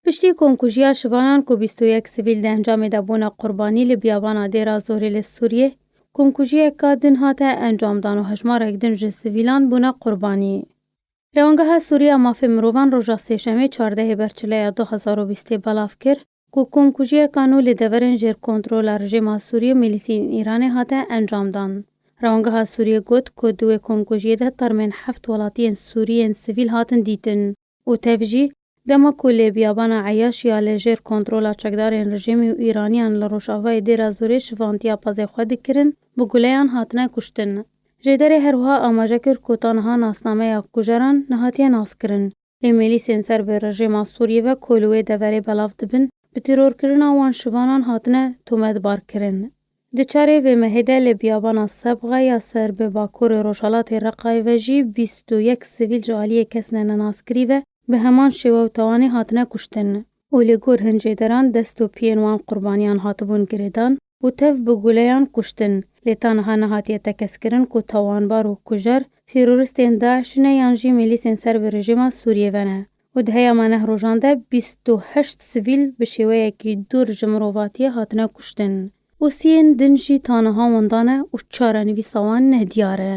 Piştî komkujiya şivanan ku bîst û yek sivîl di encamê de bûne qurbanî li biyabana Dêra Zorê li Sûriyê, komkujiyeka din hate encamdan û hejmarek din ji sivîlan bûne qurbanî. Rewandgeha Sûrî ya Mafê Mirovan roja Sêşemê çardehê Berçileya du hezar û bîstê belav kir ku komkujiya Kano li deverên jêr kontrola rijêma Sûriyê û milîsiyên Îranê hate encamdan. Rewandgeha Sûriyê got ku di wê komkujiyê de termên heft welatiyên Sûrî yên sivîl hatin dîtin û tev jî dema ku lê biyabana Eyaş ya li jêr kontrola çekdarên rijêmî û Îraniyan li rojavayê Dêra Zorê şivantiya pezê xwe dikirin bi guleyan hatine kuştin. Jêderê herwiha amaje kir ku ta niha nasnameya kujeran nehatiye naskirin. Lê mêlîsên ser bi rejêma Sûriyê ve ku li wê deverê belav dibin, bi tîrorkirina wan şivanan hatine tometbarkirin. Di çarê vê mehê de li biyabana Sebxa ya ser bi bakurê rojhilatê Reqayê ve jî bîst û yek sivîl ji aliyê kesine nenaskirî ve bi heman şêwe û tawanê hatine kuştin û li gor hin cêderan dest û piyên wan qurbaniyan hatibûn girêdan. û tev bi guleyan kuştin, lê tanha nehatiye tekezkirin ku tawanbar û kujer teroristên DAIŞ'î ne yan jî mîlîsên ser bi rejîma Sûriyê ve ne û di heya me neh rojan de bîst û heşt sivîl bi şêweyekî dûr ji mirovatiyê hatine kuştin û siyên din jî tanha winda ne û çarenivîsa wan neh diyar e.